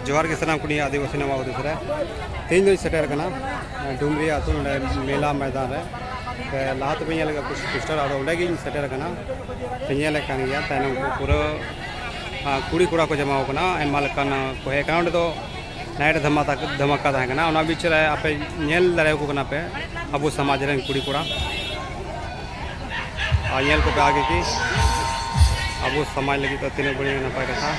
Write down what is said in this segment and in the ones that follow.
ᱡᱚᱦᱟᱨ ᱜᱮ ᱥᱟᱱᱟᱢ ᱠᱩᱲᱤ ᱟᱹᱫᱤᱵᱟᱹᱥᱤ ᱱᱟᱢᱟ ᱩᱫᱩᱥ ᱨᱮ ᱛᱮᱦᱮᱧ ᱫᱚᱧ ᱥᱮᱴᱮᱨ ᱠᱟᱱᱟ ᱰᱩᱢᱨᱤ ᱟᱹᱛᱩ ᱱᱚᱰᱮ ᱢᱮᱞᱟ ᱢᱚᱭᱫᱟᱱ ᱨᱮ ᱥᱮ ᱞᱟᱦᱟ ᱛᱮᱯᱮ ᱧᱮᱞ ᱠᱟᱜ ᱯᱳᱥᱴᱟᱨ ᱟᱫᱚ ᱚᱸᱰᱮ ᱜᱤᱧ ᱥᱮᱴᱮᱨ ᱠᱟᱱᱟ ᱯᱮ ᱧᱮᱞ ᱠᱟᱱ ᱜᱮᱭᱟ ᱛᱟᱭᱱᱚᱢ ᱠᱚ ᱯᱩᱨᱟᱹ ᱠᱩᱲᱤ ᱠᱚᱲᱟ ᱠᱚ ᱡᱟᱢᱟᱣ ᱠᱟᱱᱟ ᱟᱭᱢᱟ ᱞᱮᱠᱟᱱ ᱠᱚ ᱦᱮᱡ ᱠᱟᱱᱟ ᱚᱸᱰᱮ ᱫᱚ ᱱᱟᱭᱤᱴ ᱫᱷᱟᱢᱟᱠᱟ ᱫᱷᱟᱢᱟᱠᱟ ᱛᱟᱦᱮᱸ ᱠᱟᱱᱟ ᱚᱱᱟ ᱵᱤᱪ ᱨᱮ ᱟᱯᱮ ᱧᱮᱞ ᱫᱟᱲᱮᱭᱟᱠᱚ ᱠᱟᱱᱟ ᱯᱮ ᱟᱵᱚ ᱥᱚᱢᱟᱡᱽ ᱨᱮᱱ ᱠᱩᱲᱤ ᱠᱚᱲᱟ ᱟᱨ ᱧᱮᱞ ᱠᱚᱯᱮ ᱟᱜᱮ ᱜᱮ ᱟᱵᱚ ᱥᱚᱢᱟᱡᱽ ᱞᱟᱹᱜᱤᱫ ᱫᱚ ᱛᱤᱱᱟᱹᱜ ᱵᱟᱹᱲᱤᱡ ᱱᱟᱯᱟᱭ ᱠᱟᱛᱷᱟ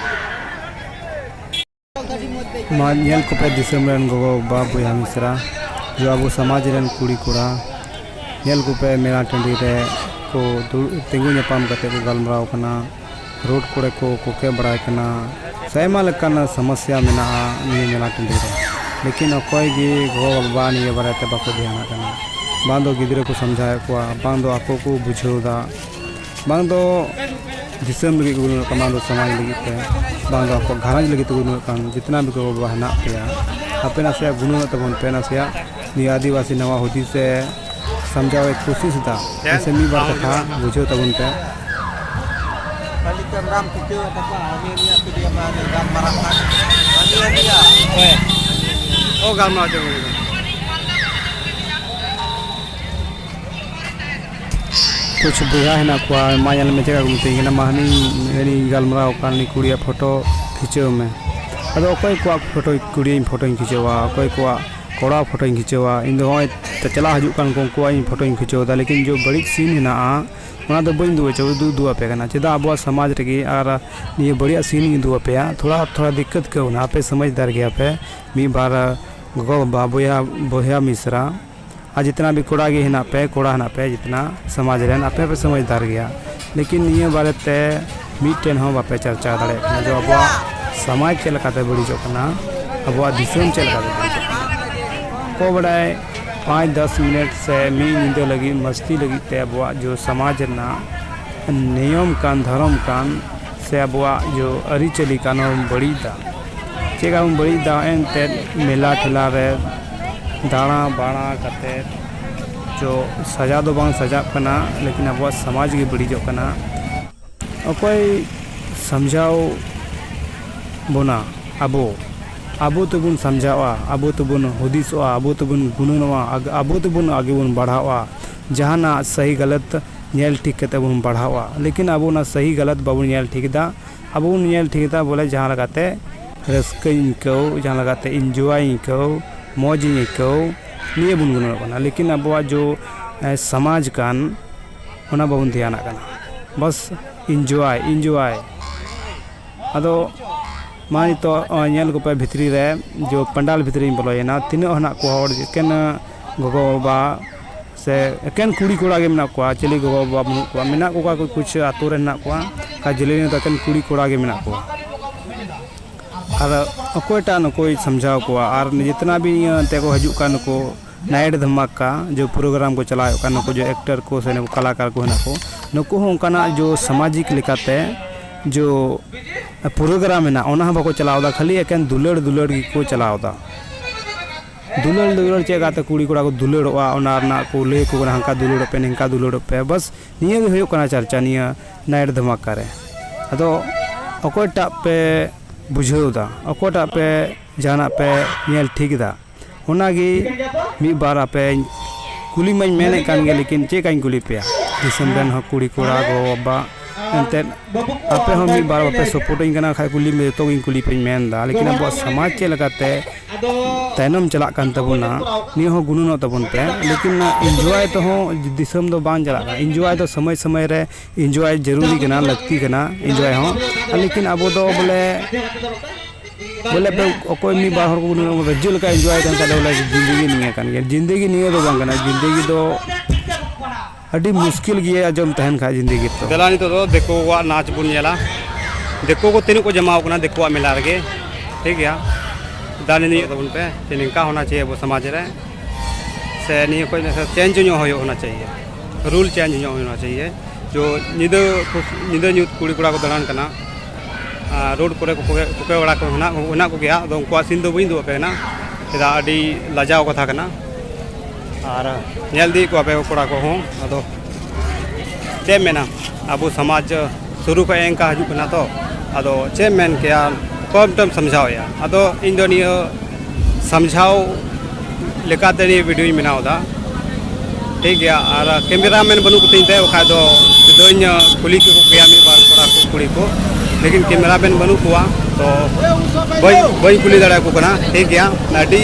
ᱢᱟ ᱧᱮᱞ ᱠᱚᱯᱮ ᱫᱤᱥᱚᱢ ᱨᱮᱱ ᱜᱚᱜᱚ ᱵᱟᱵᱟ ᱵᱚᱭᱦᱟ ᱢᱤᱥᱨᱟ ᱡᱮ ᱟᱵᱚ ᱥᱚᱢᱟᱡᱽ ᱨᱮᱱ ᱠᱩᱲᱤ ᱠᱚᱲᱟ ᱧᱮᱞ ᱠᱚᱯᱮ ᱢᱮᱞᱟ ᱴᱟᱺᱰᱤ ᱨᱮ ᱠᱚ ᱫᱩᱲᱩᱵ ᱛᱤᱸᱜᱩ ᱧᱟᱯᱟᱢ ᱠᱟᱛᱮ ᱠᱚ ᱜᱟᱞᱢᱟᱨᱟᱣ ᱠᱟᱱᱟ ᱨᱳᱰ ᱠᱚᱨᱮ ᱠᱚ ᱠᱚᱠᱮ ᱵᱟᱲᱟᱭ ᱠᱟᱱᱟ ᱥᱮ ᱟᱭᱢᱟ ᱞᱮᱠᱟᱱ ᱥᱚᱢᱚᱥᱥᱟ ᱢᱮᱱᱟᱜᱼᱟ ᱱᱤᱭᱟᱹ ᱢᱮᱞᱟ ᱴᱟᱺᱰᱤ ᱨᱮ ᱞᱮᱠᱤᱱ ᱚᱠᱚᱭ ᱜᱮ ᱜᱚᱜᱚ ᱵᱟᱵᱟ ᱱᱤᱭᱟᱹ ᱵᱟᱨᱮ ᱛᱮ ᱵᱟᱠᱚ ᱫᱷᱮᱭᱟᱱᱟᱜ ᱠᱟᱱᱟ ᱵᱟᱝ ᱫᱚ ᱜᱤᱫᱽᱨᱟᱹ ᱠᱚ ᱥᱚᱢᱡᱷᱟᱣᱮᱫ ᱠᱚᱣᱟ ᱵᱟᱝ ᱫᱚ ᱟᱠᱚ ᱠᱚ ᱵᱩᱡᱷᱟᱹᱣᱫᱟ ᱵᱟᱝ ᱫᱚ ᱫᱤᱥᱚᱢ ᱞᱟᱹᱜᱤᱫ ᱠᱚ ᱜᱩᱱᱟᱹᱱᱚᱜ ᱠᱟᱱ ᱵᱟᱝ ᱫᱚ ᱥᱚᱢᱟᱡᱽ ᱞᱟᱹᱜᱤᱫ ᱛᱮ ᱵᱟᱝ ᱫᱚ ᱟᱠᱚᱣᱟᱜ ᱜᱷᱟᱨᱚᱸᱡᱽ ᱞᱟᱹᱜᱤᱫ ᱛᱮᱠᱚ ᱜᱩᱱᱟᱹᱱᱚᱜ ᱠᱟᱱ ᱡᱚᱛᱚᱱᱟ ᱜᱮ ᱜᱚ ᱵᱟᱵᱟ ᱦᱮᱱᱟᱜ ᱯᱮᱭᱟ ᱟᱯᱮ ᱱᱟᱥᱮᱭᱟᱜ ᱜᱩᱱᱟᱹᱱᱚᱜ ᱛᱟᱵᱚᱱ ᱯᱮ ᱱᱟᱥᱮᱭᱟᱜ ᱱᱤᱭᱟᱹ ᱟᱹᱫᱤᱵᱟᱹᱥᱤ ᱱᱟᱣᱟ ᱦᱩᱫᱤᱥ ᱥᱮ ᱥᱟᱢᱡᱷᱟᱣ ᱮ ᱠᱳᱥᱤᱥ ᱮᱫᱟ ᱥᱮ ᱢᱤᱫ ᱵᱟᱨ ᱠᱟᱛᱷᱟ ᱵᱩᱡᱷᱟᱹᱣ ᱛᱟᱵᱚᱱ ᱯᱮ ᱚ ᱜᱟᱞᱢᱟᱨᱟᱣ ᱪᱟᱵᱟ ᱠᱮᱫᱟ ᱠᱩᱪᱷ ᱵᱚᱭᱦᱟ ᱦᱮᱱᱟᱜ ᱠᱚᱣᱟ ᱢᱟ ᱧᱮᱞ ᱢᱮ ᱪᱮᱫ ᱠᱚ ᱢᱤᱛᱟᱹᱧ ᱠᱟᱱᱟ ᱢᱟ ᱦᱟᱹᱱᱤ ᱦᱟᱹᱱᱤ ᱜᱟᱞᱢᱟᱨᱟᱣ ᱠᱟᱱ ᱩᱱᱤ ᱠᱩᱲᱤᱭᱟᱜ ᱯᱷᱳᱴᱳ ᱠᱷᱤᱪᱟᱹᱣ ᱢᱮ ᱟᱫᱚ ᱚᱠᱚᱭ ᱠᱚᱣᱟᱜ ᱯᱷᱳᱴᱳ ᱠᱩᱲᱤᱭᱟᱜ ᱯᱷᱳᱴᱳᱧ ᱠᱷᱤᱪᱟᱹᱣᱟ ᱚᱠᱚᱭ ᱠᱚᱣᱟᱜ ᱠᱚᱲᱟᱣᱟᱜ ᱯᱷᱳᱴᱳᱧ ᱠᱷᱤᱪᱟᱹᱣᱟ ᱤᱧ ᱫᱚ ᱱᱚᱜᱼᱚᱭ ᱪᱟᱞᱟᱜ ᱦᱤᱡᱩᱜ ᱠᱟᱱ ᱩᱱᱠᱩᱣᱟᱜ ᱤᱧ ᱯᱷᱳᱴᱳᱧ ᱠᱷᱤᱪᱟᱹᱣᱫᱟ ᱞᱮᱠᱤᱱ ᱡᱮ ᱵᱟᱹᱲᱤᱡ ᱥᱤᱱ ᱦᱮᱱᱟᱜᱼᱟ ᱚᱱᱟ ᱫᱚ ᱵᱟᱹᱧ ᱩᱫᱩᱜ ᱦᱚᱪᱚ ᱩᱫᱩᱜ ᱟᱯᱮ ᱠᱟᱱᱟ ᱪᱮᱫᱟᱜ ᱟᱵᱚᱣᱟᱜ ᱥᱚᱢᱟᱡᱽ ᱨᱮᱜᱮ ᱟᱨ ᱱᱤᱭᱟᱹ ᱵᱟᱹᱲᱤᱡᱟᱜ ᱥᱤᱱ ᱤᱧ ᱩᱫᱩᱜ ᱟᱯᱮᱭᱟ ᱛᱷᱚᱲᱟ ᱛᱷᱚᱲᱟ ᱫᱤᱠᱠᱟᱹᱛ ᱟᱹᱭᱠᱟᱹᱣᱱᱟ ᱟᱯᱮ ᱥᱚᱢᱟᱡᱽᱫᱟᱨ ᱜᱮᱭᱟᱯᱮ ᱢᱤᱫ ᱵᱟᱨ ᱜᱚᱜᱚᱼᱵᱟᱵᱟ ᱵᱚᱭᱦᱟ ᱵᱚᱭᱦᱟ ᱢᱤᱥᱨᱟ ᱟᱨ ᱡᱤᱛᱱᱟ ᱵᱷᱤ ᱠᱚᱲᱟ ᱜᱮ ᱦᱮᱱᱟᱜ ᱯᱮ ᱠᱚᱲᱟ ᱦᱮᱱᱟᱜ ᱯᱮ ᱡᱤᱛᱱᱟ ᱥᱚᱢᱟᱡᱽ ᱨᱮᱱ ᱟᱯᱮ ᱯᱮ ᱥᱚᱢᱟᱡᱽᱫᱟᱨ ᱜᱮᱭᱟ ᱞᱮᱠᱤᱱ ᱱᱤᱭᱟᱹ ᱵᱟᱨᱮ ᱛᱮ ᱢᱤᱫᱴᱮᱱ ᱦᱚᱸ ᱵᱟᱯᱮ ᱪᱟᱨᱪᱟᱣ ᱫᱟᱲᱮᱭᱟᱜ ᱠᱟᱱᱟ ᱡᱮ ᱟᱵᱚᱣᱟᱜ ᱥᱚᱢᱟᱡᱽ ᱪᱮᱫ ᱞᱮᱠᱟᱛᱮ ᱵᱟᱹᱲᱤᱡᱚᱜ ᱠᱟᱱᱟ ᱟᱵᱚᱣᱟᱜ ᱫᱤᱥᱚᱢ ᱪᱮᱫ ᱞᱮᱠᱟᱛᱮ ᱵᱟᱹᱲᱤᱡᱚᱜ ᱠᱟᱱᱟ ᱚᱠᱚᱭ ᱵᱟᱰᱟᱭ ᱯᱟᱸᱪ ᱫᱚᱥ ᱢᱤᱱᱤᱴ ᱥᱮ ᱢᱤᱫ ᱧᱤᱫᱟᱹ ᱞᱟᱹᱜᱤᱫ ᱢᱟᱹᱥᱛᱤ ᱞᱟᱹᱜᱤᱫ ᱛᱮ ᱟᱵᱚᱣᱟᱜ ᱡᱮ ᱥᱚᱢᱟᱡᱽ ᱨᱮᱱᱟᱜ ᱱᱤᱭᱚᱢ ᱠᱟᱱ ᱫᱷᱚᱨᱚᱢ ᱠᱟᱱ ᱥᱮ ᱟᱵᱚᱣᱟᱜ ᱡᱮ ᱟᱹᱨᱤᱪᱟᱹᱞᱤ ᱠᱟᱱ ᱚᱱᱟ ᱵᱚᱱ ᱵᱟᱹᱲᱤᱡ ᱮᱫᱟ ᱪᱮᱫ ᱠᱟᱢ ᱵᱟᱹᱲᱤᱡ ᱫᱟ ᱮᱱᱛᱮ ᱢᱮᱞᱟ ᱴᱷᱮᱞᱟ ᱨᱮ ᱫᱟᱬᱟ ᱵᱟᱲᱟ ᱠᱟᱛᱮ ᱪᱚ ᱥᱟᱡᱟᱣ ᱫᱚ ᱵᱟᱝ ᱥᱟᱡᱟᱜ ᱠᱟᱱᱟ ᱞᱮᱠᱤᱱ ᱟᱵᱚᱣᱟᱜ ᱥᱚᱢᱟᱡᱽ ᱜᱮ ᱵᱟᱹᱲᱤᱡᱚᱜ ᱠᱟᱱᱟ ᱚᱠᱚᱭ ᱥᱟᱢᱡᱷᱟᱣ ᱵᱚᱱᱟ ᱟᱵᱚ ᱟᱵᱚ ᱛᱮᱵᱚᱱ ᱥᱟᱢᱡᱷᱟᱣᱟ ᱟᱵᱚ ᱛᱮᱵᱚᱱ ᱦᱩᱫᱤᱥᱚᱜᱼᱟ ᱟᱵᱚ ᱛᱮᱵᱚᱱ ᱜᱩᱱᱟᱹᱱᱚᱜᱼᱟ ᱟᱵᱚ ᱛᱮᱵᱚᱱ ᱟᱜᱮ ᱵᱚᱱ ᱵᱟᱲᱦᱟᱣᱚᱜᱼᱟ ᱡᱟᱦᱟᱱᱟᱜ ᱥᱟᱹᱦᱤ ᱜᱟᱞᱚᱛ ᱧᱮᱞ ᱴᱷᱤᱠ ᱠᱟᱛᱮ ᱵᱚᱱ ᱵᱟᱲᱦᱟᱣᱚᱜᱼᱟ ᱞᱮᱠᱤᱱ ᱟᱵᱚ ᱚᱱᱟ ᱥᱟᱹᱦᱤ ᱜᱟᱞᱚᱛ ᱵᱟᱵᱚᱱ ᱧᱮᱞ ᱴᱷᱤᱠ ᱮᱫᱟ ᱟᱵᱚ ᱵᱚᱱ ᱧᱮᱞ ᱴᱷᱤᱠ ᱮᱫᱟ ᱵᱚᱞᱮ ᱡᱟᱦᱟᱸ ᱞᱮᱠᱟᱛᱮ ᱨᱟᱹᱥᱠᱟᱹᱧ ᱟᱹᱭᱠᱟᱹᱣ ᱡᱟᱦᱟᱸ ᱞᱮᱠᱟᱛᱮ ᱤᱱᱡᱚᱭ ᱤᱧ ᱟᱹᱭᱠᱟᱹᱣ ᱢᱚᱡᱽ ᱤᱧ ᱟᱹᱭᱠᱟᱹᱣ ᱱᱤᱭᱟᱹ ᱵᱚᱱ ᱜᱩᱱᱟᱹᱱᱚᱜ ᱠᱟᱱᱟ ᱞᱮᱠᱤᱱ ᱟᱵᱚᱣᱟᱜ ᱡᱮ ᱥᱚᱢᱟᱡᱽ ᱠᱟᱱ ᱚᱱᱟ ᱵᱟᱵᱚᱱ ᱫᱷᱮᱭᱟᱱᱟᱜ ᱠᱟᱱᱟ ᱵᱟᱥ ᱤᱱᱡᱚᱭ ᱤᱱᱡᱚᱭ ᱟᱫᱚ ᱢᱟ ᱱᱤᱛᱚᱜ ᱧᱮᱞ ᱠᱚᱯᱮ ᱵᱷᱤᱛᱨᱤ ᱨᱮ ᱡᱮ ᱯᱟᱱᱰᱟᱞ ᱵᱷᱤᱛᱨᱤᱧ ᱵᱚᱞᱚᱭᱮᱱᱟ ᱛᱤᱱᱟᱹᱜ ᱦᱮᱱᱟᱜ ᱠᱚᱣᱟ ᱦᱚᱲ ᱮᱠᱮᱱ ᱜᱚᱜᱚᱼᱵᱟᱵᱟ ᱥᱮ ᱮᱠᱮᱱ ᱠᱩᱲᱤ ᱠᱚᱲᱟ ᱜᱮ ᱢᱮᱱᱟᱜ ᱠᱚᱣᱟ ᱪᱤᱞᱤ ᱜᱚᱜᱚ ᱵᱟᱵᱟ ᱵᱟᱹᱱᱩᱜ ᱠᱚᱣᱟ ᱢᱮᱱᱟᱜ ᱠᱚᱣᱟ ᱚᱠᱟ ᱠᱚ ᱠᱩᱪᱷ ᱟᱹᱛᱩ ᱨᱮ ᱢᱮᱱᱟᱜ ᱠᱚᱣᱟ ᱚᱠᱟ ᱡᱮᱞᱮᱧ ᱨᱮᱫᱚ ᱮᱠᱮᱱ ᱠᱩᱲᱤ ᱠᱚᱲᱟ ᱜᱮ ᱢᱮᱱᱟᱜ ᱠᱚᱣᱟ ᱟᱨ ᱚᱠᱚᱭᱴᱟᱜ ᱱᱩᱠᱩᱭ ᱥᱟᱢᱡᱷᱟᱣ ᱠᱚᱣᱟ ᱟᱨ ᱡᱤᱛᱱᱟ ᱵᱷᱤ ᱤᱭᱟᱹ ᱮᱱᱛᱮᱫ ᱠᱚ ᱦᱤᱡᱩᱜ ᱠᱟᱱ ᱱᱩᱠᱩ ᱱᱟᱭᱤᱴ ᱫᱷᱟᱢᱟᱠᱟ ᱡᱮ ᱯᱨᱳᱜᱨᱟᱢ ᱠᱚ ᱪᱟᱞᱟᱣᱮᱫ ᱠᱟᱱ ᱱᱩᱠᱩ ᱡᱮ ᱮᱠᱴᱟᱨ ᱠᱚ ᱥᱮ ᱱᱩᱠᱩ ᱠᱟᱞᱟᱠᱟᱨ ᱠᱚ ᱦᱮᱱᱟᱜ ᱠᱚ ᱱᱩᱠᱩ ᱦᱚᱸ ᱚᱱᱠᱟᱱᱟᱜ ᱡᱮ ᱥᱟᱢᱟᱡᱤᱠ ᱞᱮᱠᱟᱛᱮ ᱡᱮ ᱯᱨᱳᱜᱨᱟᱢ ᱢᱮᱱᱟᱜᱼᱟ ᱚᱱᱟ ᱦᱚᱸ ᱵᱟᱠᱚ ᱪᱟᱞᱟᱣᱫᱟ ᱠᱷᱟᱹᱞᱤ ᱮᱠᱮᱱ ᱫᱩᱞᱟᱹᱲ ᱫᱩᱞᱟᱹᱲ ᱜᱮᱠᱚ ᱪᱟᱞᱟᱣᱫᱟ ᱫᱩᱞᱟᱹᱲ ᱫᱩᱞᱟᱹᱲ ᱪᱮᱫ ᱜᱟᱛᱮ ᱠᱩᱲᱤ ᱠᱚᱲᱟ ᱠᱚ ᱫᱩᱞᱟᱹᱲᱚᱜᱼᱟ ᱚᱱᱟ ᱨᱮᱱᱟᱜ ᱠᱚ ᱞᱟᱹᱭ ᱟᱠᱚ ᱠᱟᱱᱟ ᱦᱟᱱᱠᱟ ᱫᱩᱞᱟᱹᱲᱚᱜ ᱯᱮ ᱱᱤᱝᱠᱟ ᱫᱩᱞᱟᱹᱲᱚᱜ ᱯᱮ ᱵᱟᱥ ᱱᱤᱭᱟᱹ ᱜᱮ ᱦᱩᱭᱩᱜ ᱠᱟᱱᱟ ᱪᱟᱨᱪᱟ ᱱᱤᱭᱟᱹ ᱱᱟᱭᱤᱴ ᱫᱷᱟᱢᱟᱠᱟ ᱨᱮ ᱟᱫᱚ ᱚᱠᱚᱭᱴᱟᱜ ᱯᱮ ᱵᱩᱡᱷᱟᱹᱣ ᱮᱫᱟ ᱚᱠᱚᱭᱴᱟᱜ ᱯᱮ ᱡᱟᱦᱟᱱᱟᱜ ᱯᱮ ᱧᱮᱞ ᱴᱷᱤᱠ ᱮᱫᱟ ᱚᱱᱟ ᱜᱮ ᱢᱤᱫ ᱵᱟᱨ ᱟᱯᱮ ᱠᱩᱞᱤ ᱢᱟᱹᱧ ᱢᱮᱱᱮᱫ ᱠᱟᱱ ᱜᱮ ᱞᱮᱠᱤᱱ ᱪᱮᱫ ᱠᱟᱹᱧ ᱠᱩᱞᱤ ᱯᱮᱭᱟ ᱫᱤᱥᱚᱢ ᱨᱮᱱ ᱦᱚᱸ ᱠᱩᱲᱤ ᱠᱚᱲᱟ ᱜᱚ ᱵᱟᱵᱟ ᱮᱱᱛᱮᱫ ᱟᱯᱮ ᱦᱚᱸ ᱢᱤᱫ ᱵᱟᱨ ᱵᱟᱯᱮ ᱥᱟᱯᱳᱨᱴ ᱟᱹᱧ ᱠᱟᱱᱟ ᱠᱷᱟᱱ ᱠᱩᱞᱤ ᱢᱮ ᱡᱚᱛᱚ ᱜᱮᱧ ᱠᱩᱞᱤ ᱯᱮᱭᱟᱹᱧ ᱢᱮᱱ ᱮᱫᱟ ᱞᱮᱠᱤᱱ ᱟᱵᱚᱣᱟᱜ ᱥᱚᱢᱟᱡᱽ ᱪᱮᱫ ᱞᱮᱠᱟᱛᱮ ᱛᱟᱭᱱᱚᱢ ᱪᱟᱞᱟᱜ ᱠᱟᱱ ᱛᱟᱵᱚᱱᱟ ᱱᱤᱭᱟᱹ ᱦᱚᱸ ᱜᱩᱱᱟᱹᱱᱚᱜ ᱛᱟᱵᱚᱱ ᱯᱮ ᱞᱮᱠᱤᱱ ᱤᱱᱡᱚᱭ ᱛᱮᱦᱚᱸ ᱫᱤᱥᱚᱢ ᱫᱚ ᱵᱟᱝ ᱪᱟᱞᱟᱜ ᱠᱟᱱᱟ ᱤᱱᱡᱚᱭ ᱫᱚ ᱥᱚᱢᱚᱭ ᱥᱚᱢᱚᱭ ᱨᱮ ᱤᱱᱡᱚᱭ ᱡᱟᱹᱨᱩᱨᱤ ᱠᱟᱱᱟ ᱞᱟᱹᱠᱛᱤ ᱠᱟᱱᱟ ᱤᱱᱡᱚᱭ ᱦᱚᱸ ᱞᱮᱠᱤᱱ ᱟᱵᱚ ᱫᱚ ᱵᱚᱞᱮ ᱵᱚᱞᱮ ᱚᱠᱚᱭ ᱢᱤᱫ ᱵᱟᱨ ᱦᱚᱲ ᱠᱚ ᱜᱩᱱᱟᱹᱱᱚᱜ ᱵᱚᱞᱮ ᱡᱮ ᱞᱮᱠᱟ ᱤᱱᱡᱚᱭ ᱠᱟᱱ ᱠᱷᱟᱡ ᱫᱚ ᱵᱚᱞᱮ ᱡᱤᱱᱫᱮᱜᱤ ᱱᱤᱭᱟᱹ ᱠᱟᱱ ᱜᱮᱭᱟ ᱡᱤᱱᱫᱮᱜᱤ ᱱᱤᱭᱟᱹ ᱫᱚ ᱵᱟᱝ ᱠᱟᱱᱟ ᱡᱤᱱᱫᱮᱜᱤ ᱫᱚ ᱟᱹᱰᱤ ᱢᱩᱥᱠᱤᱞ ᱜᱮᱭᱟ ᱟᱸᱡᱚᱢ ᱛᱟᱦᱮᱱ ᱠᱷᱟᱡ ᱡᱤᱱᱫᱮᱜᱤ ᱛᱚ ᱫᱮᱞᱟ ᱱᱤᱛᱚᱜ ᱫᱚ ᱫᱤᱠᱩ ᱠᱚᱣᱟᱜ ᱱᱟᱪ ᱵᱚᱱ ᱧᱮᱞᱟ ᱫᱤᱠᱩ ᱠᱚ ᱛᱤᱱᱟᱹᱜ ᱠᱚ ᱡᱚᱢᱟᱣ ᱠᱟᱱᱟ ᱫᱤᱠᱩᱣᱟᱜ ᱢᱮᱞᱟ ᱨᱮᱜᱮ ᱴᱷᱤᱠ ᱜᱮᱭᱟ ᱫᱟᱱᱤ ᱱᱤᱭᱟᱹ ᱛᱟᱵᱚᱱ ᱯᱮ ᱡᱮ ᱱᱤᱝᱠᱟ ᱦᱚᱱᱟ ᱪᱟᱦᱤᱭᱮ ᱟᱵᱚ ᱥᱚᱢᱟᱡᱽ ᱨᱮ ᱥᱮ ᱱᱤᱭᱟᱹ ᱠᱷᱚᱡ ᱪᱮᱧᱡᱽ ᱧᱚᱜ ᱦᱩᱭᱩᱜ ᱦᱚᱱᱟ ᱪᱟᱦᱤᱭᱮ ᱨᱩᱞ ᱪᱮᱧᱡᱽ ᱧᱚᱜ ᱦᱩᱭᱩᱜ ᱦᱚᱱᱟ ᱪᱟᱦᱤᱭᱮ ᱡᱚ ᱧᱤᱫᱟᱹ ᱧᱤᱫᱟᱹ ᱧᱩᱛ ᱠᱩᱲᱤ ᱠᱚᱲᱟ ᱠᱚ ᱫᱟᱬᱟᱱ ᱠᱟᱱᱟ ᱨᱳᱰ ᱠᱚᱨᱮ ᱠᱚ ᱠᱚᱠᱮ ᱵᱟᱲᱟ ᱠᱚ ᱦᱮᱱᱟᱜ ᱠᱚᱜᱮᱭᱟ ᱟᱫᱚ ᱩᱱᱠᱩᱣᱟᱜ ᱥᱤᱱ ᱫᱚ ᱵᱟᱹᱧ ᱩᱫᱩᱜ ᱟᱯᱮ ᱠᱟᱱᱟ ᱪᱮᱫᱟᱜ ᱟᱹᱰᱤ ᱞᱟᱡᱟᱣ ᱠᱟᱛᱷᱟ ᱠᱟᱱᱟ ᱟᱨ ᱧᱮᱞ ᱤᱫᱤᱭᱮᱫ ᱠᱚᱣᱟ ᱯᱮ ᱠᱚᱲᱟ ᱠᱚᱦᱚᱸ ᱟᱫᱚ ᱪᱮᱫ ᱮᱢ ᱢᱮᱱᱟ ᱟᱵᱚ ᱥᱚᱢᱟᱡᱽ ᱥᱩᱨᱩ ᱠᱷᱚᱱ ᱮᱝᱠᱟ ᱦᱤᱡᱩᱜ ᱠᱟᱱᱟ ᱛᱚ ᱟᱫᱚ ᱪᱮᱫ ᱮᱢ ᱢᱮᱱ ᱠᱮᱭᱟ ᱚᱠᱚᱭ ᱢᱤᱫᱴᱮᱱ ᱮᱢ ᱥᱟᱢᱡᱷᱟᱣᱮᱭᱟ ᱟᱫᱚ ᱤᱧ ᱫᱚ ᱱᱤᱭᱟᱹ ᱥᱟᱢᱡᱷᱟᱣ ᱞᱮᱠᱟᱛᱮ ᱱᱤᱭᱟᱹ ᱵᱷᱤᱰᱤᱭᱳᱧ ᱵᱮᱱᱟᱣ ᱮᱫᱟ ᱴᱷᱤᱠ ᱜᱮᱭᱟ ᱟᱨ ᱠᱮᱢᱮᱨᱟ ᱢᱮᱱ ᱵᱟᱹᱱᱩᱜ ᱠᱚᱛᱤᱧ ᱛᱮ ᱵᱟᱠᱷᱟᱡ ᱫᱚ ᱥᱤᱫᱷᱟᱹᱧ ᱠᱩᱞᱤ ᱠᱮᱠᱚ ᱠᱮᱭᱟ ᱢᱤᱫ ᱵᱟᱨ ᱠᱚᱲᱟ ᱠᱚ ᱠᱩᱲᱤ ᱠᱚ ᱞᱮᱠᱤᱱ ᱠᱮᱢᱮᱨᱟ ᱢᱮᱱ ᱵᱟᱹᱱᱩᱜ ᱠᱚᱣᱟ ᱛᱚ ᱵᱟᱹᱧ ᱵᱟᱹᱧ ᱠᱩᱞᱤ ᱫᱟᱲᱮᱭᱟᱠᱚ ᱠᱟᱱᱟ ᱴᱷᱤᱠ ᱜᱮᱭᱟ ᱟᱹᱰᱤ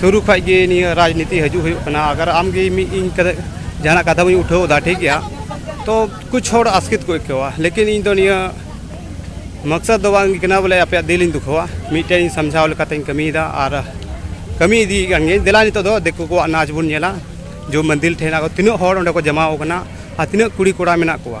ᱥᱩᱨᱩ ᱠᱷᱚᱡ ᱜᱮ ᱱᱤᱭᱟᱹ ᱨᱟᱡᱽᱱᱤᱛᱤ ᱦᱤᱡᱩᱜ ᱦᱩᱭᱩᱜ ᱠᱟᱱᱟ ᱟᱜᱟᱨ ᱟᱢ ᱜᱮ ᱢᱤᱫ ᱤᱧ ᱠᱟᱛᱮ ᱡᱟᱦᱟᱱᱟᱜ ᱠᱟᱛᱷᱟ ᱵᱟᱹᱧ ᱩᱴᱷᱟᱹᱣ ᱮᱫᱟ ᱴᱷᱤᱠ ᱜᱮᱭᱟ ᱛᱚ ᱠᱩᱪ ᱦᱚᱲ ᱟᱥᱠᱮᱛ ᱠᱚ ᱟᱹᱭᱠᱟᱹᱣᱟ ᱞᱮᱠᱤᱱ ᱤᱧ ᱫᱚ ᱱᱤᱭᱟᱹ ᱢᱚᱠᱥᱚᱫ ᱫᱚ ᱵᱟᱝ ᱠᱟᱱᱟ ᱵᱚᱞᱮ ᱟᱯᱮᱭᱟᱜ ᱫᱤᱞ ᱤᱧ ᱫᱩᱠᱷᱟᱹᱣᱟ ᱢᱤᱫᱴᱮᱱ ᱤᱧ ᱥᱟᱢᱡᱷᱟᱣ ᱞᱮᱠᱟᱛᱮᱧ ᱠᱟᱹᱢᱤᱭᱮᱫᱟ ᱟᱨ ᱠᱟᱹᱢᱤ ᱤᱫᱤᱭᱮᱫ ᱠᱟᱱ ᱜᱤᱭᱟᱹᱧ ᱫᱮᱞᱟ ᱱᱤᱛᱚᱜ ᱫᱚ ᱫᱤᱠᱩ ᱠᱚᱣᱟᱜ ᱱᱟᱪ ᱵᱚᱱ ᱧᱮᱞᱟ ᱡᱚ ᱢᱚᱱᱫᱤᱨ ᱴᱷᱮᱱ ᱟᱨᱚ ᱛᱤᱱᱟᱹᱜ ᱦᱚᱲ ᱚᱸᱰᱮ ᱠᱚ ᱡᱚᱢᱟᱣ ᱠᱟᱱᱟ ᱟᱨ ᱛᱤᱱᱟᱹᱜ ᱠᱩᱲᱤ ᱠᱚᱲᱟ ᱢᱮᱱᱟᱜ ᱠᱚᱣᱟ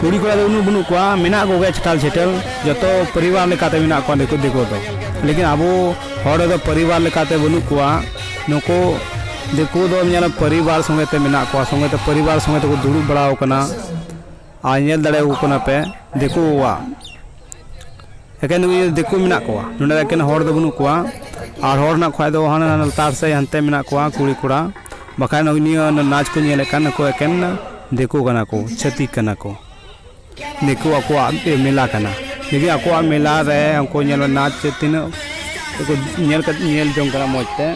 ᱠᱩᱲᱤ ᱠᱚᱲᱟ ᱫᱚ ᱩᱱᱟᱹᱜ ᱵᱟᱹᱱᱩᱜ ᱠᱚᱣᱟ ᱢᱮᱱᱟᱜ ᱠᱚᱜᱮᱭᱟ ᱪᱷᱟᱴᱟᱞ ᱪᱷᱮᱴᱟᱞ ᱡᱚᱛᱚ ᱯᱚᱨᱤᱵᱟᱨ ᱞᱮᱠᱟᱛᱮ ᱢᱮᱱᱟᱜ ᱠᱚᱣᱟ ᱫᱤᱠᱩ ᱫᱤᱠᱩ ᱫᱚ ᱞᱮᱠᱤᱱ ᱟᱵᱚ ᱦᱚᱲ ᱫᱚ ᱯᱚᱨᱤᱵᱟᱨ ᱞᱮᱠᱟᱛᱮ ᱵᱟᱹᱱᱩᱜ ᱠᱚᱣᱟ ᱱᱩᱠᱩ ᱫᱤᱠᱩ ᱫᱚ ᱧᱮᱞ ᱯᱚᱨᱤᱵᱟᱨ ᱥᱚᱸᱜᱮ ᱛᱮ ᱢᱮᱱᱟᱜ ᱠᱚᱣᱟ ᱥᱚᱸᱜᱮ ᱛᱮ ᱯᱚᱨᱤᱵᱟᱨ ᱥᱚᱸᱜᱮ ᱛᱮᱠᱚ ᱫᱩᱲᱩᱵ ᱵᱟᱲᱟᱣ ᱠᱟᱱᱟ ᱟᱨ ᱧᱮᱞ ᱫᱟᱲᱮᱭᱟᱠᱚ ᱠᱟᱱᱟ ᱯᱮ ᱫᱤᱠᱩᱣᱟᱜ ᱮᱠᱮᱱ ᱫᱤᱠᱩ ᱢᱮᱱᱟᱜ ᱠᱚᱣᱟ ᱱᱚᱰᱮ ᱮᱠᱮᱱ ᱦᱚᱲ ᱫᱚ ᱵᱟᱹᱱᱩᱜ ᱠᱚᱣᱟ ᱟᱨ ᱦᱚᱲ ᱢᱮᱱᱟᱜ ᱠᱷᱟᱡ ᱫᱚ ᱦᱟᱱᱟ ᱦᱟᱱᱟ ᱞᱟᱛᱟᱨ ᱥᱮᱡ ᱦᱟᱱᱛᱮ ᱢᱮᱱᱟᱜ ᱠᱚᱣᱟ ᱠᱩᱲᱤ ᱠᱚᱲᱟ ᱵᱟᱠᱷᱟᱡ ᱱᱤᱭᱟᱹ ᱱᱟᱪ ᱠᱚ ᱧᱮᱞᱮᱫ ᱠᱟᱱ ᱱᱩᱠᱩ ᱮᱠᱮᱱ ᱫᱤᱠᱩ ᱠᱟᱱᱟ ᱠᱚ ᱪᱷᱟᱹᱛᱤᱠ ᱠᱟᱱᱟ ᱠᱚ ᱫᱤᱠᱩ ᱟᱠᱚᱣᱟᱜ ᱢᱮᱞᱟ ᱠᱟᱱᱟ ᱡᱩᱫᱤ ᱟᱠᱚᱣᱟᱜ ᱢᱮᱞᱟ ᱨᱮ ᱩᱱᱠᱩ ᱧᱮᱞ ᱱᱟᱪ ᱛᱤᱱᱟᱹᱜ ᱧᱮᱞ ᱠᱟᱛᱮ ᱧᱮᱞ ᱡᱚᱝ ᱠᱟᱱᱟ ᱢᱚᱡᱽ ᱛᱮ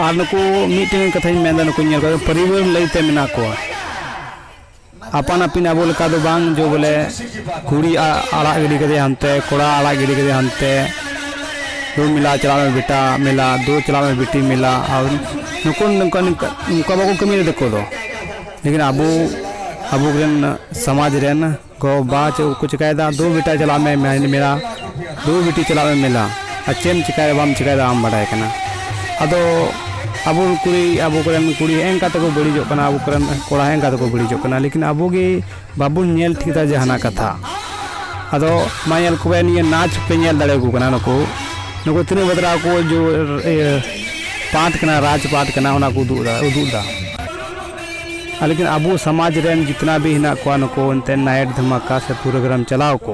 ᱟᱨ ᱱᱩᱠᱩ ᱢᱤᱫᱴᱮᱱ ᱠᱟᱛᱷᱟᱧ ᱢᱮᱱᱫᱟ ᱱᱩᱠᱩ ᱧᱮᱞ ᱠᱟᱛᱮ ᱯᱚᱨᱤᱵᱟᱨ ᱞᱟᱹᱭᱛᱮ ᱢᱮᱱᱟᱜ ᱠᱚᱣᱟ ᱟᱯᱟᱱ ᱟᱹᱯᱤᱱ ᱟᱵᱚ ᱞᱮᱠᱟ ᱫᱚ ᱵᱟᱝ ᱡᱮ ᱵᱚᱞᱮ ᱠᱩᱲᱤ ᱟᱲᱟᱜ ᱜᱤᱰᱤ ᱠᱮᱫᱮᱭᱟ ᱦᱟᱱᱛᱮ ᱠᱚᱲᱟ ᱟᱲᱟᱜ ᱜᱤᱰᱤ ᱠᱮᱫᱮᱭᱟ ᱦᱟᱱᱛᱮ ᱫᱩ ᱢᱮᱞᱟ ᱪᱟᱞᱟᱜ ᱢᱮ ᱵᱮᱴᱟ ᱢᱮᱞᱟ ᱫᱩ ᱪᱟᱞᱟᱜ ᱢᱮ ᱵᱤᱴᱤ ᱢᱮᱞᱟ ᱟᱨ ᱱᱩᱠᱩ ᱱᱚᱝᱠᱟ ᱱᱚᱝᱠᱟ ᱱᱚᱝᱠᱟ ᱵᱟᱠᱚ ᱠᱟᱹᱢᱤᱭᱟ ᱫᱤᱠᱩ ᱫᱚ ᱞᱮᱠᱤᱱ ᱟᱵᱚ ᱟᱵᱚ ᱨᱮᱱ ᱥᱚᱢᱟᱡᱽ ᱨᱮᱱ ᱜᱚᱼᱵᱟᱵᱟ ᱪᱮᱫ ᱠᱚ ᱪᱤᱠᱟᱹᱭᱮᱫᱟ ᱫᱩ ᱵᱮᱴᱟ ᱪᱟᱞᱟᱜ ᱢᱮ ᱢᱮᱞᱟ ᱫᱩ ᱵᱤᱴᱤ ᱪᱟᱞᱟᱜ ᱢᱮ ᱢᱮᱞᱟ ᱟᱨ ᱪᱮᱫ ᱮᱢ ᱪᱤᱠᱟᱹᱭᱟ ᱵᱟᱢ ᱪᱤᱠᱟᱹᱭᱟ ᱟᱢ ᱵᱟᱰᱟᱭ ᱠᱟᱱᱟ ᱟᱫᱚ ᱟᱵᱚ ᱠᱩᱲᱤ ᱟᱵᱚ ᱠᱚᱨᱮᱱ ᱠᱩᱲᱤ ᱦᱮᱸᱜᱼᱮ ᱱᱮᱝᱠᱟ ᱛᱮᱠᱚ ᱵᱟᱹᱲᱤᱡᱚᱜ ᱠᱟᱱᱟ ᱟᱵᱚ ᱠᱚᱨᱮᱱ ᱠᱚᱲᱟ ᱦᱮᱸᱜᱼᱮ ᱱᱮᱝᱠᱟ ᱛᱮᱠᱚ ᱵᱟᱹᱲᱤᱡᱚᱜ ᱠᱟᱱᱟ ᱞᱮᱠᱤᱱ ᱟᱵᱚ ᱜᱮ ᱵᱟᱵᱚᱱ ᱧᱮᱞ ᱴᱷᱤᱠ ᱮᱫᱟ ᱡᱟᱦᱟᱱᱟᱜ ᱠᱟᱛᱷᱟ ᱟᱫᱚ ᱢᱟ ᱧᱮᱞ ᱠᱚᱵᱮᱱ ᱱᱤᱭᱟᱹ ᱱᱟᱪ ᱯᱮ ᱧᱮᱞ ᱫᱟᱲᱮᱭᱟᱠᱚ ᱠᱟᱱᱟ ᱱᱩᱠᱩ ᱱᱩᱠᱩ ᱛᱤᱱᱟᱹᱜ ᱵᱟᱛᱨᱟ ᱠᱚ ᱤᱭᱟᱹ ᱯᱟᱴ ᱠᱟᱱᱟ ᱨᱟᱡᱽ ᱯᱟᱴ ᱠᱟᱱᱟ ᱚᱱᱟ ᱠᱚ ᱩᱫᱩᱜ ᱮᱫᱟ ᱩᱫᱩᱜ ᱮᱫᱟ ᱟᱨ ᱞᱮᱠᱤᱱ ᱟᱵᱚ ᱥᱚᱢᱟᱡᱽ ᱨᱮᱱ ᱡᱤᱛᱱᱟ ᱵᱷᱤ ᱦᱮᱱᱟᱜ ᱠᱚᱣᱟ ᱱᱩᱠᱩ ᱮᱱᱛᱮᱫ ᱱᱟᱭᱤᱴ ᱫᱷᱟᱢᱟᱠᱟ ᱥᱮ ᱯᱨᱳᱜᱨᱟᱢ ᱪᱟᱞᱟᱣ ᱠᱚ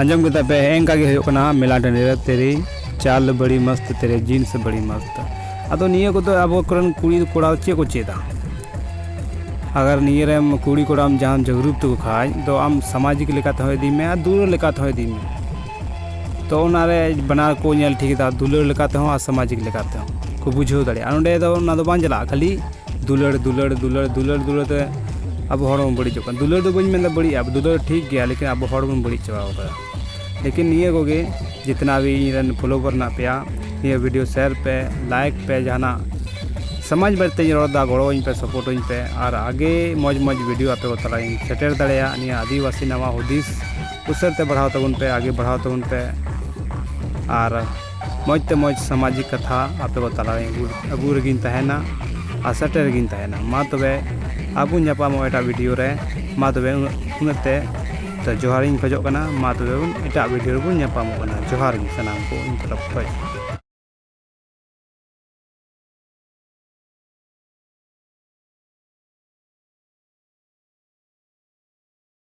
ᱟᱸᱡᱚᱢ ᱠᱮᱫᱟ ᱯᱮ ᱮᱝᱠᱟ ᱜᱮ ᱦᱩᱭᱩᱜ ᱠᱟᱱᱟ ᱢᱮᱞᱟ ᱴᱟᱺᱰᱤ ᱨᱮ ᱛᱮᱨᱮ ᱪᱟᱞ ᱵᱟᱹᱲᱤ ᱢᱚᱥᱛ ᱛᱮᱨᱮ ᱡᱤᱱᱥ ᱵᱟᱹᱲᱤ ᱢᱚᱥᱛ ᱟᱫᱚ ᱱᱤᱭᱟᱹ ᱠᱚᱫᱚ ᱟᱵᱚ ᱠᱚᱨᱮᱱ ᱠᱩᱲᱤ ᱠᱚᱲᱟ ᱪᱮᱫ ᱠᱚ ᱪᱮᱫᱟ ᱟᱜᱟᱨ ᱱᱤᱭᱟᱹ ᱨᱮᱢ ᱠᱩᱲᱤ ᱠᱚᱲᱟᱢ ᱡᱟᱦᱟᱸᱢ ᱡᱟᱜᱽᱨᱩᱠ ᱛᱟᱠᱚ ᱠᱷᱟᱡ ᱫᱚ ᱟᱢ ᱥᱟᱢᱟᱡᱤᱠ ᱞᱮᱠᱟ ᱛᱮᱦᱚᱸ ᱤᱫᱤ ᱢᱮ ᱟᱨ ᱫᱩᱞᱟᱹᱲ ᱞᱮᱠᱟ ᱛᱮᱦᱚᱸ ᱤᱫᱤ ᱢᱮ ᱛᱚ ᱚᱱᱟ ᱨᱮ ᱵᱟᱱᱟᱨ ᱠᱚ ᱧᱮᱞ ᱴᱷᱤᱠ ᱮᱫᱟ ᱫᱩᱞᱟᱹᱲ ᱞᱮᱠᱟ ᱛᱮᱦᱚᱸ ᱟᱨ ᱥᱟᱢᱟᱡᱤᱠ ᱞᱮᱠᱟ ᱛᱮᱦᱚᱸ ᱠᱚ ᱵᱩᱡᱷᱟᱹᱣ ᱫᱟᱲᱮᱭᱟᱜᱼᱟ ᱟᱨ ᱚᱸᱰᱮ ᱫᱚ ᱚᱱᱟ ᱫᱚ ᱵᱟᱝ ᱪᱟᱞᱟᱜᱼᱟ ᱠᱷᱟᱹᱞᱤ ᱫᱩᱞᱟᱹᱲ ᱫᱩᱞᱟᱹᱲ ᱫᱩᱞᱟᱹᱲ ᱫᱩᱞᱟᱹᱲ ᱫᱩᱞᱟᱹᱲ ᱛᱮ ᱟᱵᱚ ᱦᱚᱲ ᱵᱚᱱ ᱵᱟᱹᱲᱤᱡᱚᱜ ᱠᱟᱱᱟ ᱫᱩᱞᱟᱹᱲ ᱫᱚ ᱵᱟᱹᱧ ᱢᱮᱱᱫᱟ ᱵᱟᱹᱲᱤᱡᱼᱟ ᱫᱩᱞᱟᱹᱲ ᱴᱷᱤᱠ ᱜᱮᱭᱟ ᱞᱮᱠᱤᱱ ᱟᱵᱚ ᱦᱚᱲ ᱵᱚᱱ ᱵᱟᱹᱲᱤᱡ ᱪᱟᱵᱟᱣ ᱠᱟᱫᱟ ᱞᱮᱠᱤᱱ ᱱᱤᱭᱟᱹ ᱠᱚᱜᱮ ᱡᱤᱛᱱᱟ ᱵᱷᱤ ᱤᱧ ᱨᱮᱱ ᱯᱷᱚᱞᱳᱣᱟᱨ ᱢᱮᱱᱟᱜ ᱯᱮᱭᱟ ᱱᱤᱭᱟᱹ ᱵᱷᱤᱰᱤᱭᱳ ᱥᱮᱭᱟᱨ ᱯᱮ ᱞᱟᱭᱤᱠ ᱯᱮ ᱡᱟᱦᱟᱱᱟᱜ ᱥᱚᱢᱟᱡᱽ ᱵᱟᱨᱮᱛᱮᱧ ᱨᱚᱲᱫᱟ ᱜᱚᱲᱚᱣᱟᱹᱧ ᱯᱮ ᱥᱟᱯᱳᱨᱴᱟᱹᱧ ᱯᱮ ᱟᱨ ᱟᱜᱮ ᱢᱚᱡᱽ ᱢᱚᱡᱽ ᱵᱷᱤᱰᱤᱭᱳ ᱟᱯᱮ ᱠᱚ ᱛᱟᱞᱟᱨᱤᱧ ᱥᱮᱴᱮᱨ ᱫᱟᱲᱮᱭᱟᱜ ᱱᱤᱭᱟᱹ ᱟᱹᱫᱤᱵᱟᱹᱥᱤ ᱱᱟᱣᱟ ᱦᱩᱫᱤᱥ ᱩᱥᱟᱹᱨᱟ ᱛᱮ ᱵᱟᱲᱦᱟᱣ ᱛᱟᱵᱚᱱ ᱯᱮ ᱟᱜᱮ ᱵᱟᱲᱦᱟᱣ ᱛᱟᱵᱚᱱ ᱯᱮ ᱟᱨ ᱢᱚᱡᱽ ᱛᱮ ᱢᱚᱡᱽ ᱥᱟᱢᱟᱡᱤᱠ ᱠᱟᱛᱷᱟ ᱟᱯᱮ ᱠᱚ ᱛᱟᱞᱟ ᱨᱮ ᱟᱹᱜᱩ ᱨᱮᱜᱮᱧ ᱛᱟᱦᱮᱱᱟ ᱟᱨ ᱥᱮᱴᱮᱨ ᱨᱮᱜᱮᱧ ᱛᱟᱦᱮᱱᱟ ᱢᱟ ᱛᱚᱵᱮ ᱟᱨ ᱵᱚᱱ ᱧᱟᱯᱟᱢᱚᱜᱼᱟ ᱮᱴᱟᱜ ᱵᱷᱤᱰᱤᱭᱳ ᱨᱮ ᱢᱟ ᱛᱚᱵᱮ ᱩᱱᱟᱹᱜ ᱩᱱᱟᱹᱜ ᱛᱮ ᱛᱚ ᱡᱚᱦᱟᱨ ᱤᱧ ᱠᱷᱚᱡᱚᱜ ᱠᱟᱱᱟ ᱢᱟ ᱛᱚᱵᱮ ᱵᱚᱱ ᱮᱴᱟᱜ ᱵᱷᱤᱰᱤᱭᱳ ᱨᱮᱵᱚᱱ ᱧᱟᱯᱟᱢᱚᱜ ᱠᱟᱱᱟ ᱡᱚᱦᱟᱨ ᱜᱮ ᱥᱟᱱᱟᱢ ᱠᱚ ᱤᱧ ᱛᱚᱨᱚᱯ ᱠᱷᱚᱡ